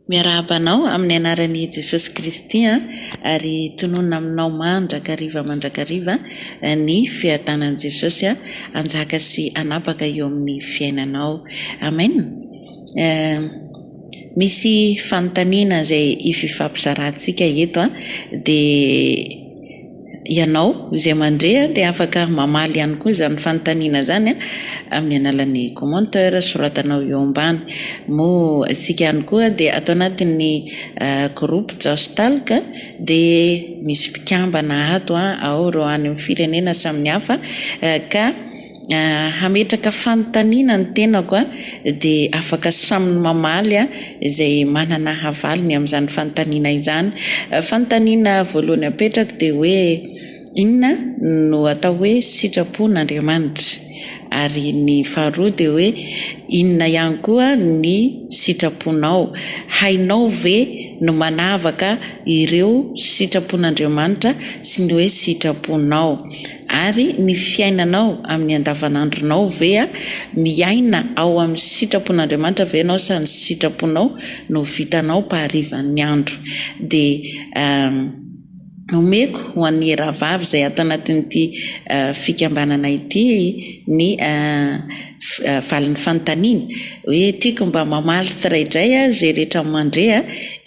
Miarahaba anao amin'ny anaran' i Jesosy Kristy an, ary tononina aminao mandrakariva mandrakariva ny fiadanan'i Jesosy hanjaka sy hanapaka eo amin'ny fiainanao. Amen eh Misy fanontaniana izay hififampizaratsika eto an, dia. Ianao izay mandre dia afaka mamaly ihany koa izany fanontaniana izany amin'ny alalan'ny commentaire soratanao eo ambany. Moa isika ihany koa dia ato anatin'ny groupe JaosTalk dia misy mpikambana ato ao ireo any amin'ny firenena samihafa ka. hametraka fanontaniana ny tenako dia afaka samy mamaly izay manana havaly ny amin'izany fanontaniana izany. Fanontaniana voalohany apetrako dia hoe inona no atao hoe sitrapon'Andriamanitra? Ary ny faharoa dia hoe inona ihany koa ny sitraponao? Hainao ve ny manavaka ireo sitrapon'Andriamanitra sy ny hoe sitraponao? Ary ny fiainanao amin'ny andavanandronao ve a? Miaina ao amin'ny sitrapon'Andriamanitra ve ianao sa ny sitraponao no vitanao mpaharivan'ny andro? Dia omeko ho an'ny rahavavy izay ato anatin'ity fikambanana ity ny Valin'ny fanontaniany hoe tiako mba mamaly tsiraidray aho izay rehetra mandre a!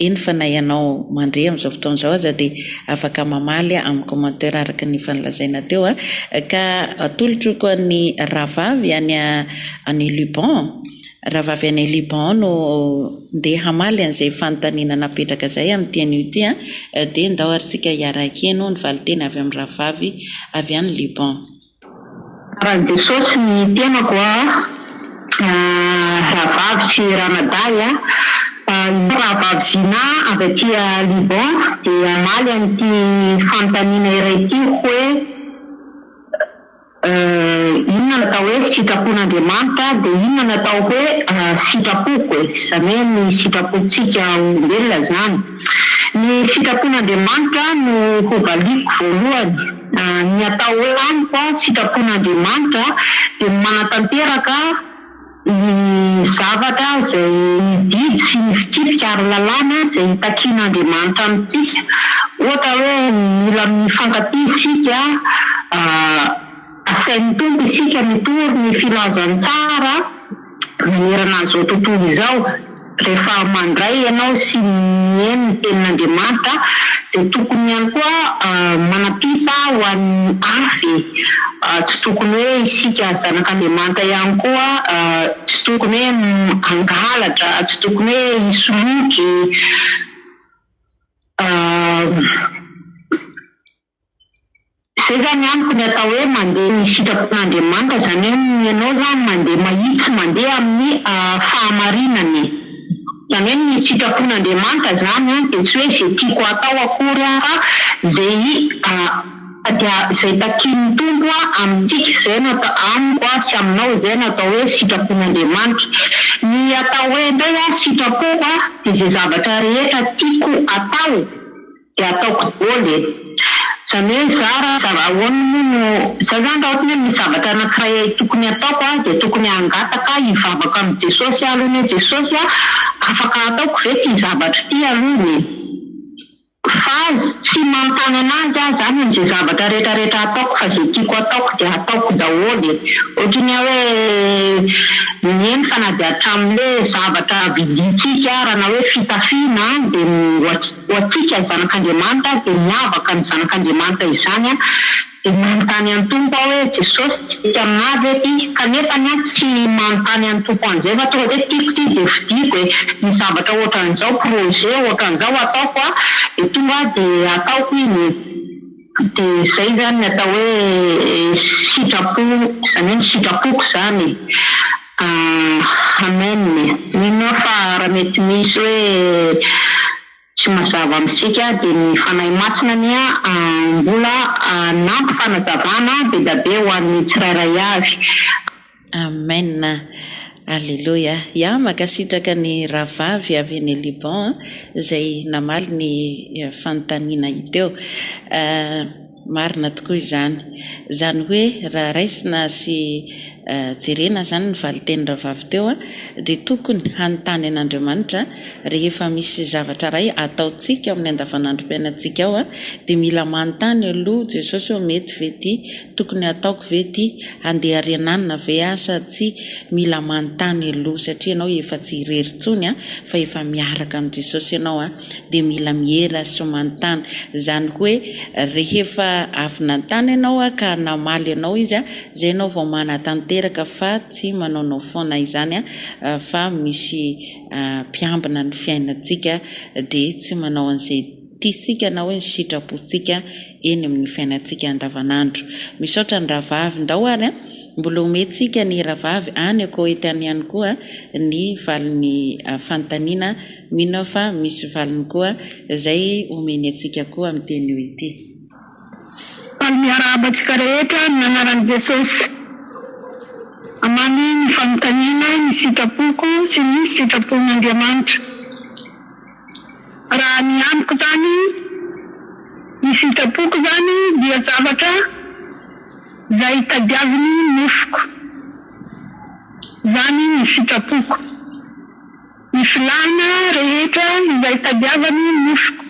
eny fa na ianao mandre amin'izao fotoana izao aza dia afaka mamaly amin'ny commenteur araka ny efa nolazaina teo a! ka atolotro ko an'i rahavavy any any Liban rahavavy any Liban no ndeha hamaly an'izay fanontaniana napetraka izay amin'ity anio ity a! dia ndao ary tsika hiara-hekeno ny valinteny avy amin'ny rahavavy avy any Liban. Tsara Jesosy ny tenako a! rahavavy sy ranadahy a! fa izaho rahavavy Zina avy aty Liban dia hamaly an'ity fanontaniana iray ity hoe inona natao hoe sitrapon'Andriamanitra dia inona natao hoe sitrapoko e! izany hoe ny sitrapontsika olombelona izany ny sitrapon'Andriamanitra no hovaliako voalohany Ny atao hoe amiko, sitrapon'Andriamanitra, dia ny manatanteraka ny zavatra izay ny didy sy ny fitsipika ary lalàna izay itakian'Andriamanitra amintsika. Ohatra hoe mila mifankatia isika, asain'ny Tompo isika mitory ny filazantsara. Manerana an'izao tontolo izao, rehefa mandray ianao sy mihaino ny Tenin'Andriamanitra, dia tokony ihany koa manam-pisa ho an'ny hafa e! Tsy tokony hoe isika zanak'Andriamanitra ihany koa tsy tokony hoe hangalatra, tsy tokony hoe hisoloky, Zay zany amiko ny atao hoe mandeha ny sitrapon'Andriamanitra zany hoe ny anao zany mandeha mahitsy mandeha amin'ny fahamarinana e! Zany hoe ny sitrapon'Andriamanitra zany an dia tsy hoe ze tiako atao akory an fa ze tadiaviny ze takian'ny Tompo an amintsika zay no atao amiko an sy aminao zay no atao hoe sitrapon'Andriamanitra. Ny atao hoe ndray an sitrapoko an dia ze zavatra rehetra tiako atao. Dia ataoko dôly e! Izany hoe za ra za ahoana moa no za zany ra ohatra hoe misy zavatra anakiray tokony ataoko a dia tokony hangataka hivavaka amin'i Jesosy aho aloha ny hoe Jesosy a afaka ataoko ve ty zavatra ity alohany e! Fa tsy manontany anazy aho zany amze zavatra rehetra rehetra ataoko fa ze tiako ataoko dia ataoko daholo e! Ohatra ny ahy hoe miheno fa na dia hatraminle zavatra vidintsika ara na hoe fitafiana dia Ho antsika zanak'Andriamanitra dia miavaka ny zanak'Andriamanitra izany dia manontany an'i Tompo aho hoe Jesosy tsy mety aminah ve ty kanefa ny ahy tsy manontany an'i Tompo an'izay fa tonga dia tiako ty dia fidiko e ny zavatra ohatran'izao projet ohatran'izao ataoko a dia tonga dia ataoko iny e. Dia izay izany ny atao hoe sitrapo, izany hoe ny sitrapoko izany eh! Amen eh! Mino aho fa raha mety misy hoe tsy mazava amintsika dia ny Fanahy Masina anie mbola hanampy fanazavana be dia be ho an'ny tsirairay avy. Amen Aleloia ya makasitraka ny rahavavy avy any Liban a zay namaly ny fanontaniana hiteo marina tokoa izany zany hoe raha raisina sy jerena zany ny valiten'ny rahavavy teo a de tokony hanontany an'Andriamanitra Rehefa misy zavatra iray ataontsika ao amin'ny andavanandrom-piainantsika ao dia mila manontany aloha Jesosy hoe mety ve ity? Tokony hataoko ve ity? Handeha ary ananona ve aho sa tsia? Mila manontany aloha satria ianao efa tsy irery intsony fa efa miaraka amin'i Jesosy ianao dia mila miera sy manontany. Izany hoe rehefa avy nanontany ianao ka namaly anao Izy izay ianao vao manatanteraka fa tsy manaonao foana izany fa misy mpiambina ny fiainantsika dia tsy manao an'izay tiantsika na hoe ny sitrapontsika eny amin'ny fiainantsika andavanandro. Misaotra ny rahavavy ndao ary a! Mbola omentsika ny rahavavy any Koety any ihany koa ny valin'ny fanontaniana, mino aho fa misy valiny koa izay omeny antsika koa amin'ity anio ity. Faly miarahaba antsika rehetra amin'ny anaran'i Jesosy. Amamy ny fanontaniana, ny sitrapoko sy ny sitrapon'Andriamanitra. Raha ny amiko izany, ny sitrapoko izany dia zavatra izay tadiavin'ny nofoko. Izany ny sitrapoko. Ny filàna rehetra izay tadiavan'ny nofoko.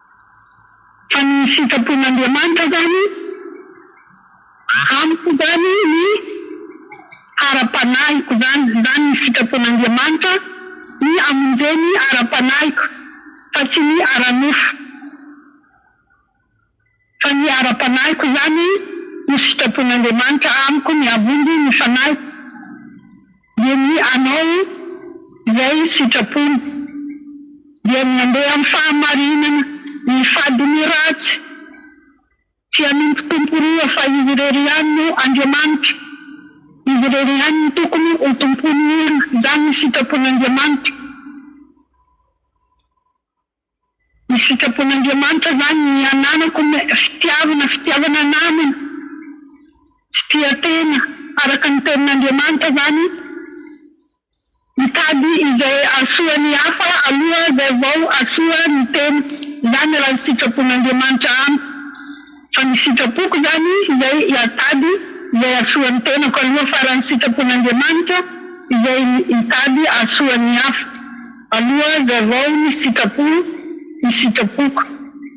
Fa ny sitrapon'Andriamanitra izany, amiko izany ny ara-panahiko izany, izany ny sitrapon'Andriamanitra, ny hamonjeo ny ara-panahiko fa tsy ny ara-nofo, fa ny ara-panahiko izany no sitrapon'Andriamanitra amiko, ny hamonjy ny fanahiko. Dia ny Anao, izay sitrapony, dia ny mandeha amin'ny fahamarinana, ny fady ny ratsy, tsy hanompo tompo roa, fa Izy irery ihany no Andriamanitra, Izy irery ihany no tokony ho tompon'ny olona, izany ny sitrapon'Andriamanitra. Ny sitrapon'Andriamanitra zany ny ananako ny fitiavana fitiavana namana tsy tia tena araka ny tenin'Andriamanitra zany mitady izay ahasoa ny hafa aloha zay vao asoa ny tena zany raha ny sitrapon'Andriamanitra amiko fa ny sitrapoko zany zay iatady izay ahasoa ny tenako aloha fa raha ny sitrapon'Andriamanitra izay itady ahasoa ny hafa. Aloha azavao ny sitrapony ny sitrapoko.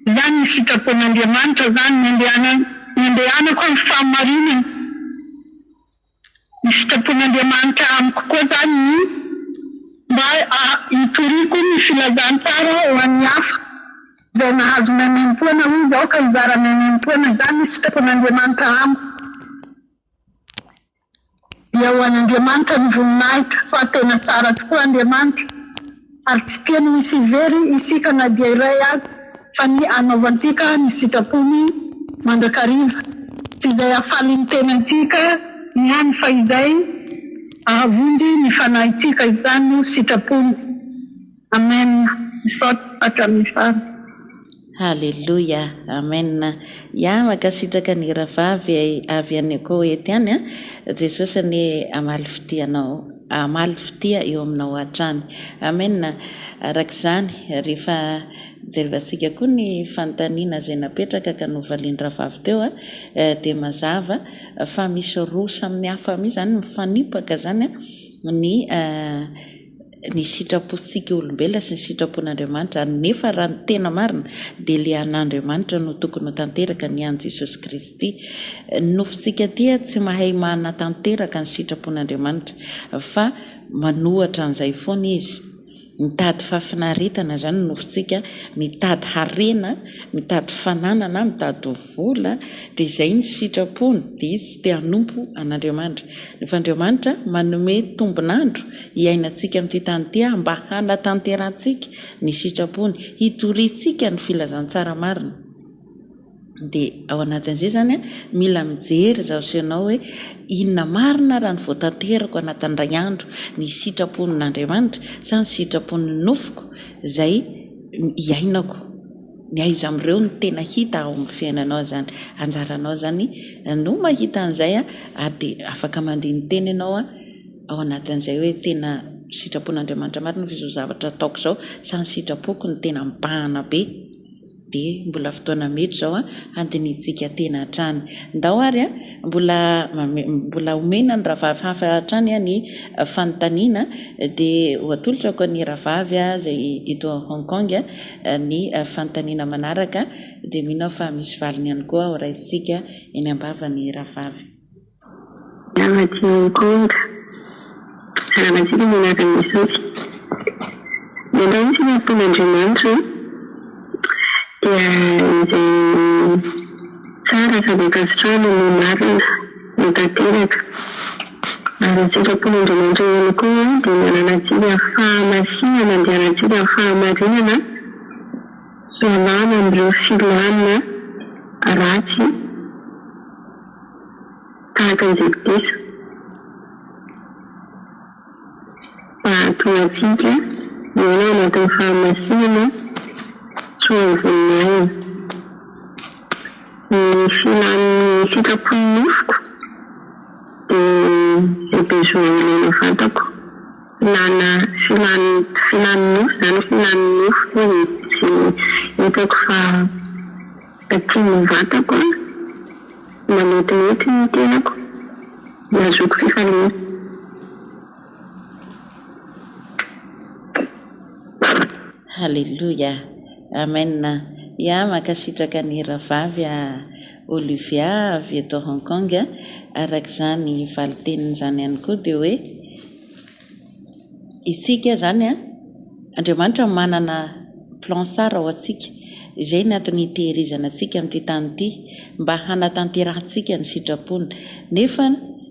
Izany ny sitrapon'Andriamanitra izany no andehanany no andehanako amin'ny fahamarinana. Ny sitrapon'Andriamanitra amiko koa izany ny mba hitoriako ny filazantsara ho an'ny hafa. Izay nahazo maimaimpoana hoy izao ka hizara maimaimpoana. Izany ny sitrapon'Andriamanitra amiko. Dia ho an'Andriamanitra ny voninahitra fa tena tsara tokoa Andriamanitra ary tsy tiany ho hisy very isika na dia iray aza fa ny hanaovantsika ny sitrapony mandrakariva sy izay hahafaly ny tenantsika ihany fa izay hahavonjy ny fanahintsika izany no sitrapony. Amen misaotra hatramin'ny farany. Haleloia Amen ya makasitraka ny ravavy avy any Koety any a Jesosy anie amaly fitia anao amaly fitia eo aminao hatrany Amen arak'izany rehefa jerevantsika koa ny fanontaniana zay napetraka ka novalian-dravavy teo a dia mazava fa misy roa samy hafa mihitsy zany mifanipaka zany a ny ny sitrapontsika olombelona sy ny sitrapon'Andriamanitra, nefa raha ny tena marina dia ilay an'Andriamanitra no tokony ho tanteraka, ny an'i Jesosy Kristy. Ny nofontsika aty tsy mahay manatanteraka ny sitrapon'Andriamanitra, fa manohatra an'izay foana izy. Mitady fahafinaretana izany ny nofontsika, mitady harena, mitady fananana, mitady vola, dia izay ny sitrapony, dia izy tsy te hanompo an'Andriamanitra. Nefa Andriamanitra manome tombon'andro hiainantsika amin'ity tany ity aho mba hanatanterantsika ny sitrapony, hitoriantsika ny filazantsara marina. Dia ao anatin'izay izany mila mijery izaho sy ianao hoe inona marina raha ny voatanterako anatin'ny indray andro, ny sitrapon'Andriamanitra sa ny sitrapon'ny nofoko izay iainako? Ny aiza amin'ireo no tena hita ao amin'ny fiainanao izany? Anjaranao izany no mahita an'izay ary dia afaka mandini-tena ianao. ao anatin'izay hoe tena sitrapon'Andriamanitra marina fa izao zavatra ataoko izao sa ny sitrapoko no tena mibahana be? dia mbola fotoana mety izao an handinihintsika tena hatrany ndao ary an mbola mbola homena ny rahavavy hafa hatrany an ny fanontaniana dia ho atolotrako an'i rahavavy an izay eto Hong Kong an ny fanontaniana manaraka dia mino aho fa misy valiny ihany koa ho raisintsika eny ambavany rahavavy Namadinika Hong Kong, Ramaziba no anarany misaoty. Mandray ny fihinakon'Andriamanitra an! Dia izay tsara sady ankasitrahana no marina no tanteraka. Ary ny sitrapon'Andriamanitra ihany koa dia ny ananantsika fahamasinana andianantsika fahamarinana hialana amin'ireo filàna ratsy. Tahaka ny Jekodisa, mba hahatonga antsika hiaina ao anatin'ny fahamasinana sy ho voninahiny. Ny filan'ny sitrapon'ny nofoko dia izay besoin ilaina vantako. Filana, filan'ny, filan'ny nofo izany, filan'ny nofoko izay hitako fa. Aty ny vatako an! Manetrinety ny tenako, nazoako fifaliana. Haleloia! Amen! Ya, mankasitraka an'i Rahavavy Olivia avy eto Hong Kong, araka izany valin-tenin'izany ihany koa dia hoe, isika izany an, Andriamanitra manana plan tsara ho antsika, izay ny antony hitehirizana antsika amin'ity tany ity, mba hanatanterahantsika ny sitrapony, nefa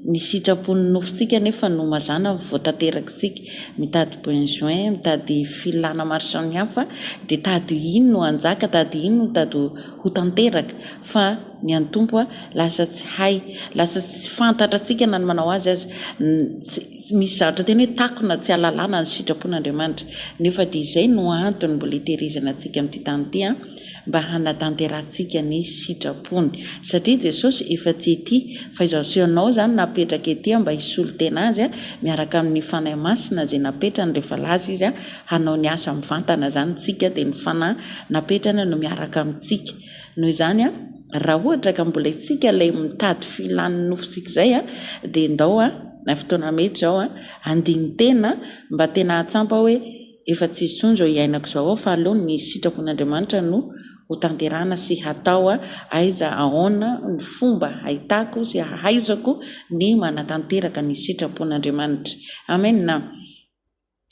ny sitrapon'ny nofontsika anefa no mazana vao tanterakitsika, mitady besoin, mitady filana maro samihafa, dia tady ho iny no hanjaka, tady ho iny no tady ho tanteraka, fa ny an'ny Tompo an, lasa tsy hay, lasa tsy fantatratsika na ny manao azy aza, Misy zavatra tena hoe takona tsy alalana ny sitrapon'Andriamanitra. Nefa dia izay no antony mbola itehirizana antsika amin'ity tany ity, mba hanatanterahantsika ny sitrapony. Satria Jesosy efa tsy ety, fa izaho sy ianao izany napetraka ety mba hisolo tena Azy miaraka amin'ny Fanahy Masina izay napetrany rehefa lasa Izy hanao ny asa mivantana izany, isika dia ny Fanahy napetrany no miaraka amintsika. Noho izany. Raha ohatra ka mbola isika ilay mitady filan'ny nofosika izay dia ndao na fotoana mety izao handini-tena mba tena ahatsampa hoe efa tsy intsony izao iainako izao fa aleo ny sitrapon'Andriamanitra no hotanterahana sy hatao aiza aona ny fomba hahitako sy hahaizako ny manatanteraka ny sitrapon'Andriamanitra. Amen.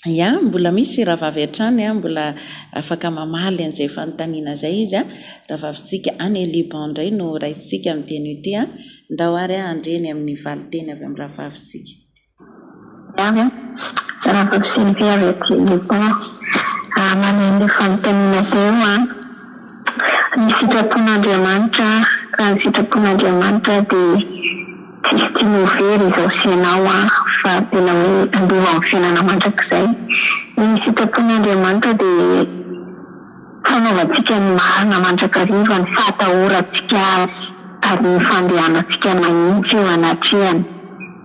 Ya, mbola misy rahavavy hatrany an, mbola afaka mamaly an'izay fanontaniana izay izy an, rahavavintsika any Liban indray no raisintsika amin'ny teny io ty an, ndao ary aho handre ny amin'ny valinteny avy amin'ny rahavavintsika. Ya, rahavavy Sylvie avy aty Liban, hamaly an'io fanontaniana izay io an, ny sitrapon'Andriamanitra, raha ny sitrapon'Andriamanitra dia. Tsisy tiana ho very izao sy ianao aho fa tena hoe handova amin'ny fiainana mandrakizay. Ny sitrapon'ny Andriamanitra dia fanaovantsika ny marina mandrakariva ny fahatahorantsika Azy ary ny fandehanantsika mahitsy eo anatrehany.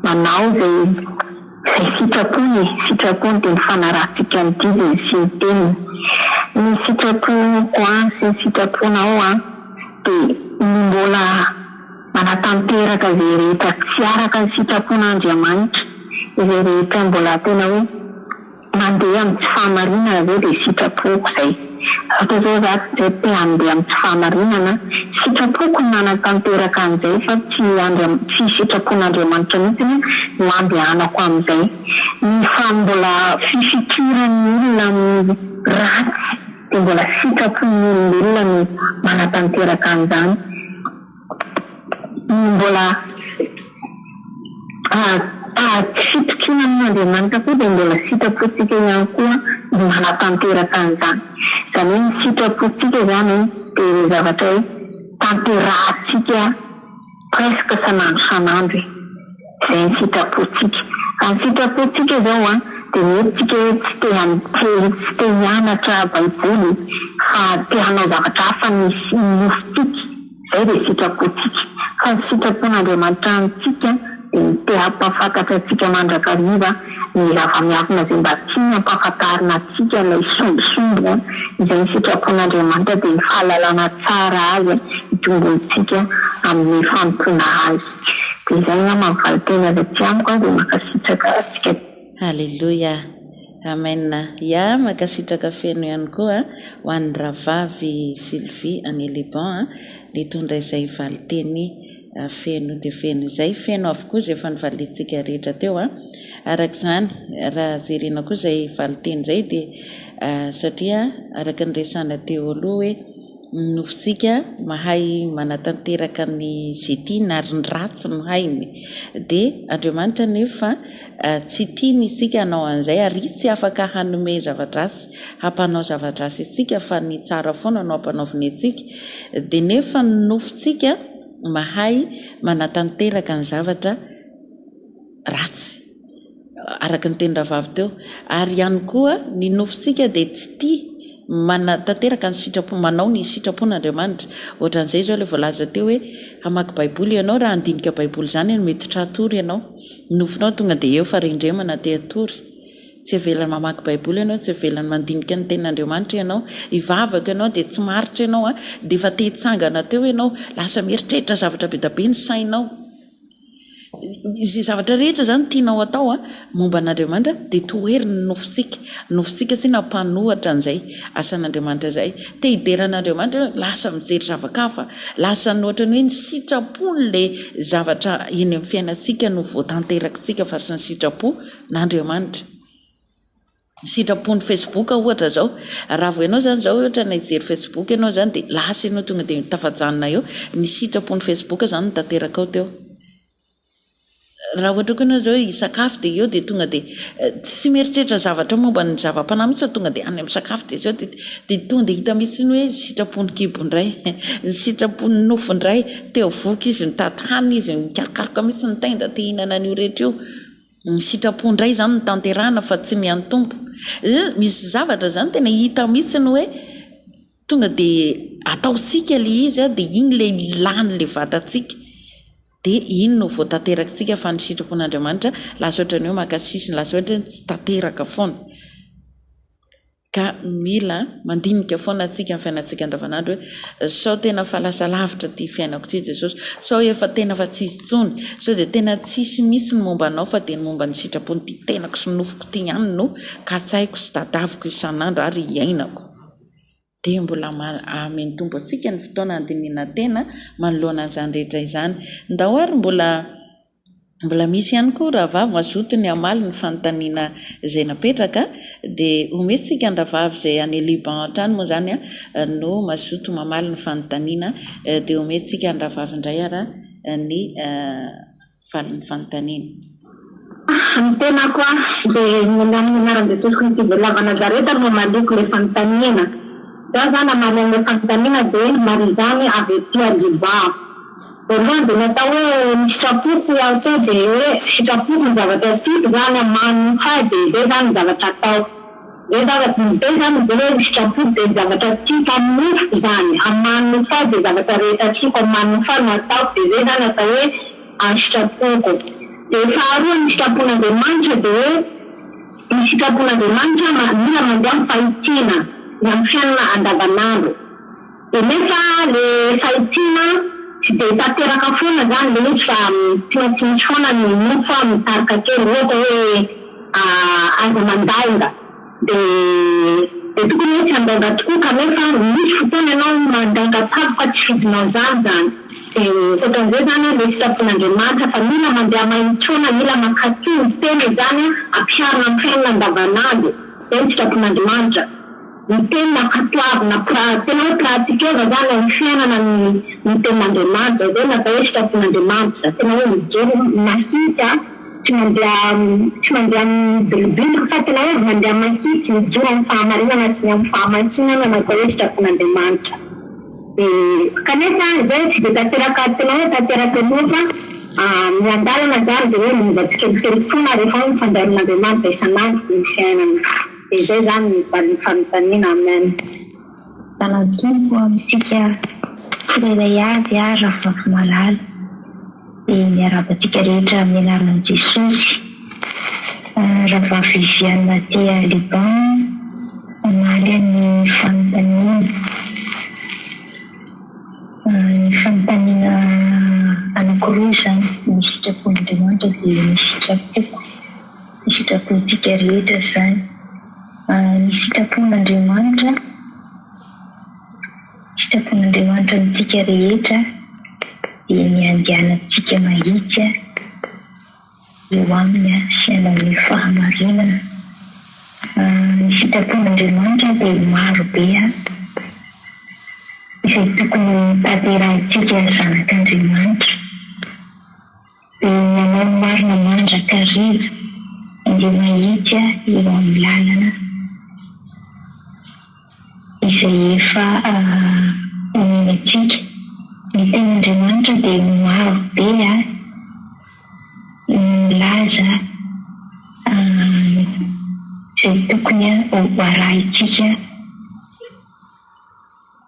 Manao izay izay sitrapony e! Sitrapony dia ny fanarahantsika ny didiny sy ny teniny. Ny sitraponko an sy ny sitraponao an dia ny mbola. Manatanteraka izay rehetra tsy araka ny sitrapon'Andriamanitra, izay rehetra mbola tena hoe mandeha amin'ny tsy fahamarinana zao dia sitrapoko izay. Ohatra zao za tsy zay te handeha amin'ny tsy fahamarinana, sitrapoko ny nanatanteraka an'izay fa tsy Andriam tsy sitrapon'Andriamanitra mihitsy ny nandehanako amin'izay. Ny fa mbola fifikiran'ny olona amin'ny ratsy dia mbola sitrapon'ny olombelona no manatanteraka an'izany. Mbola tsy fitokiana amin'Andriamanitra koa dia mbola sitrapontsika ihany koa no manatanteraka an'izany. Izany hoe ny sitrapontsika izany dia ilay zavatra hoe tanterahintsika presque isan'andro isan'andro e. izay ny sitrapontsika. Fa ny sitrapontsika izao an, dia mety tsika hoe tsy te hanontely, tsy te hianatra baiboly, fa te hanao zavatra hafa ny ny nofontsika, izay dia sitrapontsika. Fa ny sitrapon'Andriamanitra amintsika dia ny te hampahafantatra antsika mandrakariva ny zava-miavona izay mba tiany hampahafantarina antsika ilay sombisomby an, izay ny sitrapon'Andriamanitra dia ny fahalalana tsara azy hitomboantsika amin'ny fanompoana azy. Dia izay ngah mampivaly tena avy aty amiko an dia makasitraka atsika. Haleloia! Amen! Ya, mankasitraka feno ihany koa ho an'ny Rahavavy Sylvie any Liban nitondra izay valinteny feno dia feno izay. Feno avokoa izay efa nivaliantsika rehetra teo. Araka izany, raha jerena koa izay valinteny izay dia satria araka ny resahana teo aloha hoe, Ny nofontsika mahay manatanteraka ny izay tiany ary ny ratsy no hainy. Dia Andriamanitra anefa tsy tiany isika hanao an'izay ary Izy tsy afaka hanome zava-dratsy hampanao zava-dratsy antsika fa ny tsara foana no ampanaoviny antsika. Dia nefa ny nofontsika mahay manatanteraka ny zavatra ratsy. araka ny tenin-drahavavy teo, ary ihany koa ny nofontsika dia tsy tia manatanteraka ny sitrapo, manao ny sitrapon'Andriamanitra. Ohatran'izay izao ilay voalaza teo hoe, hamaky baiboly ianao, raha handinika baiboly izany ianao, miditra hatory ianao, ny nofonao tonga dia eo fa rendremana te hatory. Tsy heveriny mamaky baiboly ianao, tsy heveriny mandinika ny tenin'Andriamanitra ianao, hivavaka ianao dia tsy maharitra ianao an, dia efa te hitsangana teo ianao, lasa mieritreritra zavatra be dia be ny sainao. Izay zavatra rehetra izany tianao atao momba an'Andriamanitra dia toheriny ny nofontsika, ny nofontsika sy na mpanohatra an'izay asan'Andriamanitra izay, te hidera an'Andriamanitra ianao lasa mijery zava-kafa, lasa ny ohatran'ny hoe ny sitrapony ilay zavatra eny amin'ny fiainantsika no voatanterakintsika fa tsy ny sitrapo n'Andriamanitra. ny sitrapony facebook ohatra zao raha vao ianao zany zao ohatra ny hijery facebook ianao zany dia lasa ianao tonga dia tafajanona eo ny sitrapony facebook zany no tanterakao teo raha ohatra koa ianao zao hisakafo dia eo dia tonga dia tsy mieritreritra zavatra momba ny zava-panahy mihitsy fa tonga dia any amin'ny sakafo dia zao dia dia tonga dia hita mihitsy ny hoe sitrapony kibo indray ny sitrapony nofo indray teo voky izy mitady hanina izy mikarokaroka mihitsy ny tenda te hihinana an'io rehetra io Ny sitrapo indray izany no tanterahina fa tsy ny an'ny Tompo. Misy zavatra izany tena hita mihitsy hoe tonga dia ataontsika ilay izy dia iny ilay lany ilay vatantsika dia iny no vao tanterak'tsika fa ny sitrapon'Andriamanitra lasa ohatran'ny hoe maka sisiny lasa ohatran'ny hoe tsy tanteraka foana. Ka mila mandinika foana antsika amin'ny fiainantsika andavanandro hoe, sao tena fa lasa lavitra ity fiainako ity Jesosy, sao efa tena fa tsy izy intsony, sao dia tena tsy hisy mihitsy ny momba anao fa dia ny momba ny sitrapon'ity tenako sy nofoko ity ihany no katsaiko sy tadaviko isan'andro ary iainako. Dia mbola mahamen'ny Tompo antsika ny fotoana handinihana tena manoloana an'izany rehetra izany. Ndao ary mbola. Mbola misy ihany koa rahavavy mazoto ny hamaly ny fanontaniana izay napetraka dia omeo tsika ny rahavavy izay any Liban hatrany moa izany an no mazoto mamaly ny fanontaniana dia omeo tsika ny rahavavy indray ara ny valin'ny fanontaniana. Ny tenako aho dia ny amin'ny anaran'i Jesosy Kristy Velona avy Nazareta no hamaliako ilay fanontaniana. Za zany hamaly an'ilay fanontaniana dia marizany avy aty Liban. Voalohany dia natao hoe ny sitrapoko ho ahy koa dia hoe sitrapoko ny zavatra tiako zany an, manin'ny hahy dia zay zany ny zavatra atao. Zay zavatra ny be zany mively hoe ny sitrapoko dia ny zavatra tiako amin'ny nofoko zany, amin'ny manin'ny hahy dia zavatra rehetra tiako amin'ny manin'ny hahy no ataoko dia zay zany atao hoe ny sitrapoko. Dia faharoa ny sitrapon'Andriamanitra dia hoe ny sitrapon'Andriamanitra mila mandeha amin'ny fahitiana ny amin'ny fiainana andavanandro. Dia nefa le fahitsiana tsy dia tanteraka foana zany le izy fa tsy maintsy misy foana ny mofo a mitarika kely ohatra hoe aza mandainga de de tokony hoe tsy handainga tokoa kanefa misy fotoana ianao mandainga tsabo fa tsy fidinao zany zany de otran'izay zany a le fitsaboan'Andriamanitra fa mila mandeha mahitsy foana mila mankaty ny tena izany a ampiharina am fiainana andavan'andro zay ny fitsaboan'Andrimanitra Ny teny nankatoavina pra, tena hoe pratikena zany ao am fiainana ny ny tenin'Andriamanitra, izay no atao hoe fikasan'Andriamanitra, tena hoe mijery mahitsy tsy mandeha tsy mandeha amin'ny bilibily fa tena hoe mandeha mahitsy mijoro amin'ny fahamarinana sy ny amin'ny fahamasinana no atao hoe fikasan'Andriamanitra. Dia kanefa izay tsy dia tanteraka tena hoe tanteraka loatra fa miandalana zany dia hoe miova tsikelikely foana rehefa hoe mifandray amin'Andriamanitra isan'andro ny fiainana. Dia zay zany ny valin fanontaniana amen. Lalatoa ho amintsika tsirairay avy aho Rafafimalaly dia miarahaba antsika rehetra amin'ny anaran'i Jesosy. Ravavy Viviane aty Liban mamaly ny fanontaniana. Ny fanontaniana anakiroa izany, ny sitrapon'Andriamanitra dia ny sitrapoko. ny sitrapontsika rehetra izany. Ny sitrapon'Andriamanitra, sitrapon'Andriamanitra amintsika rehetra dia ny handehanantsika mahitsy eo aminy sy hanao ny fahamarinana. Ny sitrapon'Andriamanitra dia maro be izay tokony ho tanterahintsika zanak'Andriamanitra. Manao marina mandrakariva ireo mahiika eo amin'ny lalana izay efa omeny antsika. Ny tenin'Andriamanitra dia maro be no milaza izay tokony ho arahintsika.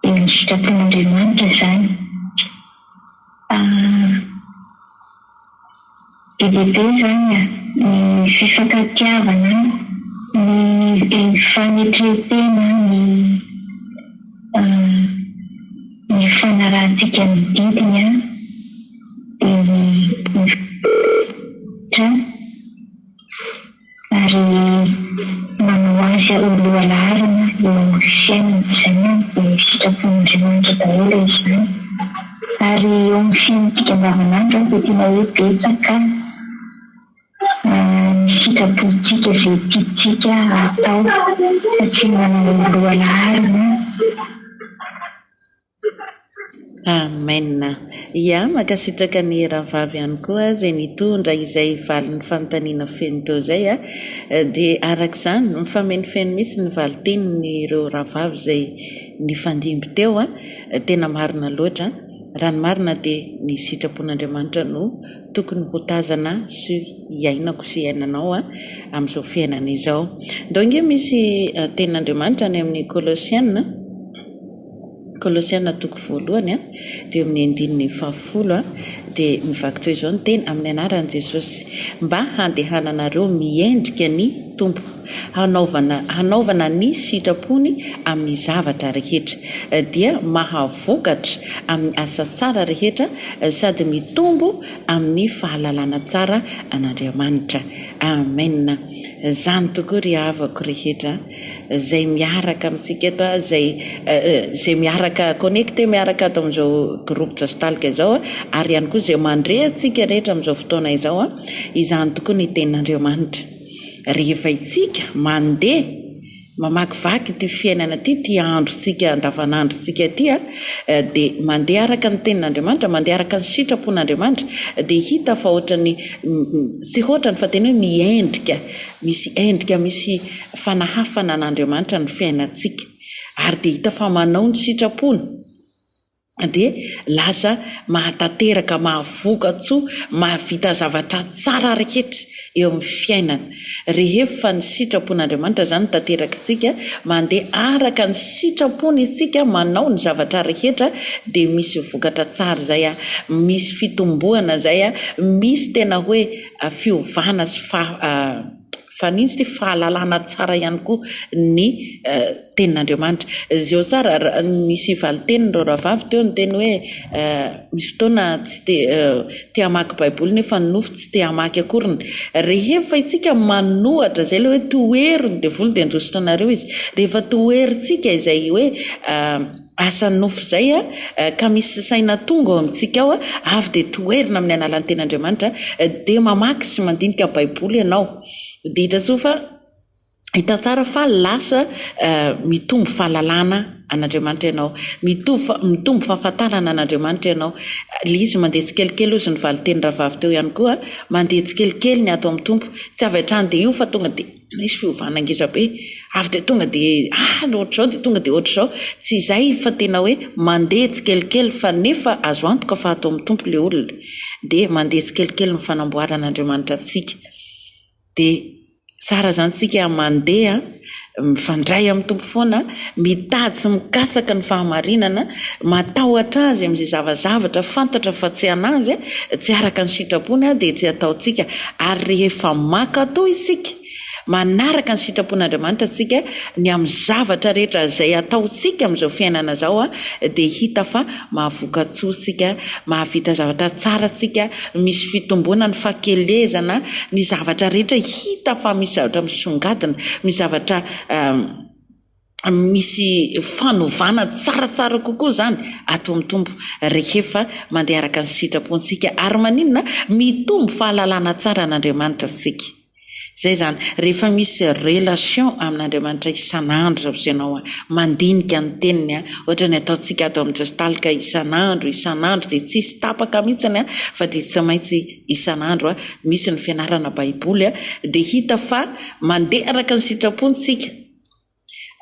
Dia ny sitrapon'Andriamanitra izany. Fa be dia be izany ny fifankatiavana, ny fanetrentena, ny ny fanarahantsika ny didiny, dia ny ny fanarahantsika ny Tompon'Andriamanitra. ary manao azy ho lohalaharana eo amin'ny fiainany izay no sitrapon'Andriamanitra daholo izany ary eo amin'ny fiainantsika andavanandro dia tena hoe betsaka ny sitrapontsika izay tiantsika hatao fa tsy manana lohalaharana Amen! Yah, mankasitraka an'i Rahavavy ihany koa izay nitondra izay valin'ny fanontaniana feno teo izay a! Dia araka izany, mifamenoifeno mihitsy ny valin-tenin'ireo Rahavavy izay nifandimby teo a! Tena marina loatra, raha ny marina dia ny sitrapon'Andriamanitra no tokony ho tazana sy iainako sy iainanao a! Amin'izao fiainana izao. Ndao ange misy tenin'Andriamanitra any amin'ny Kolosiana. Kolosiana toko voalohany a, dia eo amin'ny andininy fahafolo a, dia mivaky toy izao ny teny, amin'ny anaran'i Jesosy, mba handehananareo miendrika ny Tompo, hanaovana hanaovana ny sitrapony amin'ny zavatra rehetra, dia mahavokatra amin'ny asa tsara rehetra, sady mitombo amin'ny fahalalana tsara an'Andriamanitra. Amen! Izany tokoa ry havako rehetra. izay miaraka amintsika eto a, izay izay miaraka connecter miaraka ato amin'izao groupe Jaztalk izao a, ary ihany koa izay mandre antsika rehetra amin'izao fotoana izao a, izany tokoa ny tenin'Andriamanitra. Rehefa itsika mandeha mamakivaky ity fiainana ity, ity androntsika andavanandrontsika ity a, dia mandeha araka ny tenin'Andriamanitra, mandeha araka ny sitrapon'Andriamanitra, dia hita fa ohatran'ny tsy ohatrany fa tena hoe miendrika Misy endrika misy fanahafana an'Andriamanitra ny fiainantsika ary dia hita fa manao ny sitrapony dia lasa mahatanteraka, mahavoka-tsoa, mahavita zavatra tsara rehetra eo amin'ny fiainana. Rehefa ny sitrapon'Andriamanitra izany no tanterakintsika, mandeha araka ny sitrapony isika, manao ny zavatra rehetra dia misy vokatra tsara izay, misy fitomboana izay, misy tena hoe fiovana sy fahalalana tsara ihany koa ny tenin'Andriamanitra. Zio tsara, nisy valin-tenin'ireo rahavavy teo niteny hoe misy fotoana tsy te te hamaky baiboly nefa ny nofo tsy te hamaky akoriny. Rehefa itsika manohatra izay ilay hoe tohero ny devoly dia handositra anareo izy. Rehefa toherintsika izay hoe Asa nofo izay ka misy saina tonga ao amintsika ao avy dia toherina amin'ny alalan'ny Tenin'Andriamanitra dia mamaky sy mandinika Baiboly ianao dia hita soa fa hita tsara fa lasa mitombo fahalalana an'Andriamanitra ianao mitovy mitombo fahafantarana an'Andriamanitra ianao le izy mandeha tsikelikely ozy ny valin-teny rahavavy teo ihany koa mandeha tsikelikely ny ato amin'ny Tompo tsy avy hatrany dia io fa tonga dia Nisy fiovana ngezabe, avy dia tonga dia any ohatr'izao dia tonga dia ohatr'izao, tsy izay fa tena hoe mandeha tsikelikely fa nefa azo antoka fa ato amin'ny Tompo ilay olona, dia mandeha tsikelikely ny fanamboaran'Andriamanitra antsika, dia tsara izany isika mandeha mifandray amin'ny Tompo foana. Mitady sy mikatsaka ny fahamarinana, matahotra Azy amin'izay zavazavatra fantatra fa tsy an'Azy, tsy araka ny sitrapony, dia tsy ataontsika, ary rehefa mankatò isika, manaraka ny sitrapon'Andriamanitra isika, ny amin'ny zavatra rehetra izay ataontsika amin'izao fiainana izao, dia hita fa mahavoka-tsoa isika, mahavita zavatra tsara isika, misy fitomboana ny fahakelezana, ny zavatra rehetra hita fa misy zavatra misongadina, misy zavatra. misy fanovana tsaratsara kokoa izany ato amin'ny Tompo rehefa mandeha araka ny sitrapontsika. Ary maninona? Mitombo fahalalana tsara an'Andriamanitra isika. Izay izany, rehefa misy relation amin'Andriamanitra isan'andro izao sy ianao mandinika ny teniny, ohatra ny ataontsika ato amin'ny Gestalt ka isan'andro, isan'andro dia tsisy tapaka mihitsy fa dia tsy maintsy isan'andro misy ny fianarana baiboly dia hita fa mandeha araka ny sitrapony tsika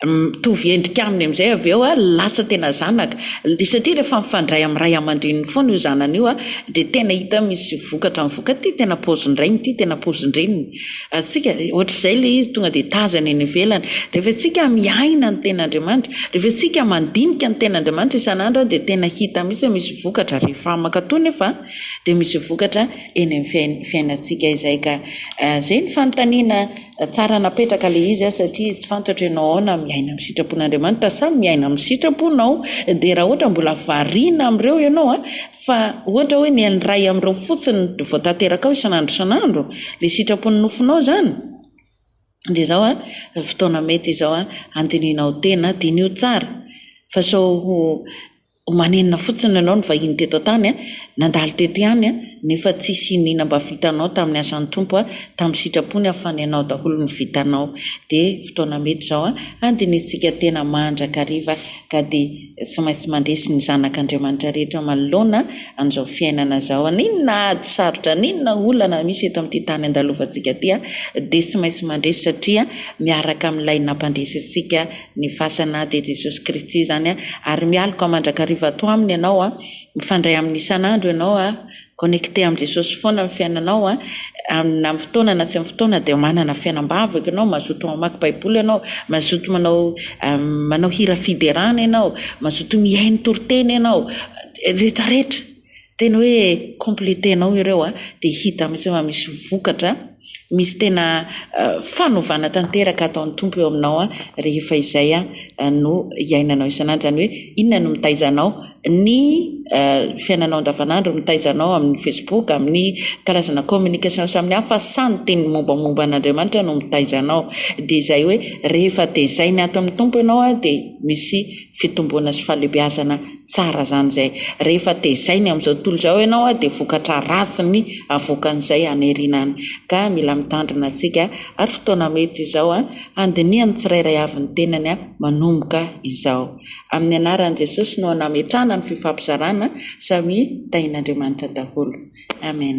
mitovy endrika aminy amin'izay avy eo lasa tena zanaka satria rehefa mifandray amin'ny ray aman-dreniny foana io zanany io dia tena hita misy vokatra amin'ny vokatra ity tena paozin-drainy ity tena paozin-dreniny atsika ohatr'izay ilay izy tonga dia tazana eny ivelany rehefa tsika miaina ny tena Andriamanitra rehefa tsika mandinika ny tena Andriamanitra isan'andro dia tena hita misy misy vokatra rehefa makatoa nefa dia misy vokatra eny amin'ny fiainantsika izay ka izay ny fanontaniana tsara napetraka ilay izy satria tsy fantatro ianao aona miaina amin'ny sitrapon'Andriamanitra sa miaina amin'ny sitraponao dia raha ohatra mbola variana amin'ireo ianao a fa ohatra hoe ny an'ny ray amin'ireo fotsiny no vao tanteraka ao isan'andro isan'andro ilay sitrapon'ny nofonao izany dia izao a fotoana mety izao a handinianao tena diniho tsara fa sao ho Omanenina fotsiny ianao nivahiny teto an-tany a, nandalo teto ihany a, nefa tsisy ino ina mba vitanao tamin'ny asan'ny Tompo a, tamin'ny sitrapony a, fa ny anao daholo no vitanao. Dia fotoana mety izao a, handinihintsika tena mandrakariva ka dia tsy maintsy mandresy ny zanak' Andriamanitra rehetra manoloana an'izao fiainana izao. An' inona ady sarotra, an' inona olana misy eto amin'ity tany andalovantsika ity a, dia tsy maintsy mandresy satria miaraka amin'ilay nampandresy antsika ny fasana dia Jesosy Kristy izany a, ary mialoka mandrakariva ato aminy ianao a, mifandray aminy isan'andro ianao a, connecté amin'i Jesosy foana ny fiainanao a, na amin'ny fotoana na tsy amin'ny fotoana dia manana fiainam-bahoka ianao, mazoto mamaky baiboly ianao, mazoto manao manao hira fiderana ianao, mazoto mihaino toriteny ianao, rehetra rehetra. Tena hoe completenao ireo a, dia hita mihitsy fa misy vokatra, misy tena fanovana tanteraka ataon'ny Tompo eo aminao a, rehefa izay a no iainanao isan'andro, izany hoe inona no mitaiza anao, ny fiainanao andavan'andro no mitaiza anao amin'ny facebook, amin'ny karazana communication samihafa sa ny teny mombamomba an'Andriamanitra no mitaiza anao, dia izay hoe rehefa tezaina ato amin'ny Tompo ianao a dia misy fitomboana sy fahalehibeazana. Tsara zany zay. Rehefa tezainy amin'izao tontolo izao ianao dia vokatra ratsy ny avoakan'izay haniriana any. Ka mila mitandrina tsika ary fotoana mety izao handinihan'ny tsirairay avy ny tenany manomboka izao. Amin'ny anaran'i Jesosy no nametrahana ny fifampizarana, samia tahin'Andriamanitra daholo. Amen.